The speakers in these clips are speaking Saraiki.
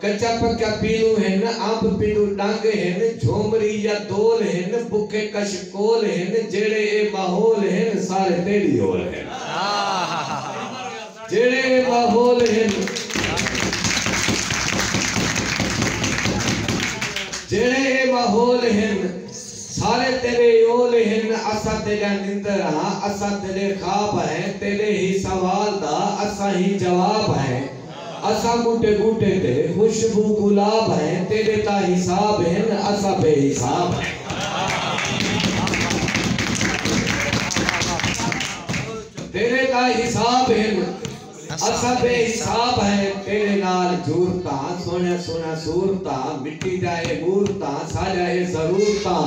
کچا پکا پیلوں ہن، امب پنڈو ڈنگ ہن، جھومری یا دول ہن، بکھے کش کول ہن، جیڑھے اے ماحول ہن، سارے تیڈی ہول ہن۔ جیڑھے اے ماحول ہن، جیڑھے اے ماحول ہن، سارے تیڈے اول ہن، اساں تیڈا نندر ہاں، اساں تیڈے خواب ہیں، تیڈے ہی سوال دا، اساں ہی جواب ہیں، اساں ٻوٹے ٻوٹے تے خوشبو گلاب ہیں تیݙے تاں حساب ہن اساں بے حساب ہیں تیݙے تاں حساب ہن اساں بے حساب ہیں تیݙے نال جورتاں سوہݨیاں سوہݨیاں صورتاں مٹی دیاں اے مورتاں ساݙیاں اے ضرورتاں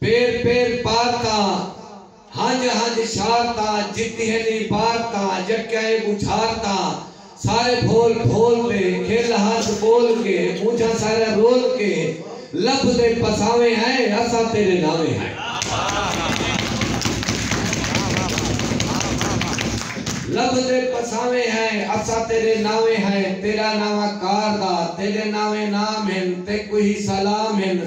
پیر پیر پارتاں ہنج ہنج شارتاں جتی ہن عبارتاں یکیاں اے ٻجھارتاں سارے بھول بھول تے کھل ہس ٻول کے مونجھاں ساریاں رول کے لب دے پساویں ہائے اساں تیرے ناویں لب دے پساویں ہائے اساں تیرے ناویں ہائے تیرا ناواں کار دا تیڈے ناویں نام ہن تیکوں ہی سلام ہن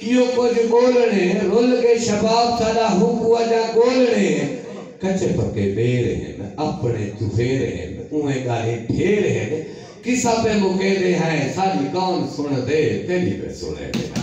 ایہو کجھ ٻولݨے رل کے شباب ساݙا ہوکو اڄا ڳولݨے کچے پکے ٻیر ہن اپݨے چفیر ہن اونویں ڳالھیں ڈھیر ہن قصہ پئے مکیندے ہیں ساݙی کون سݨدے تیݙی پئے سݨیندے ہیں۔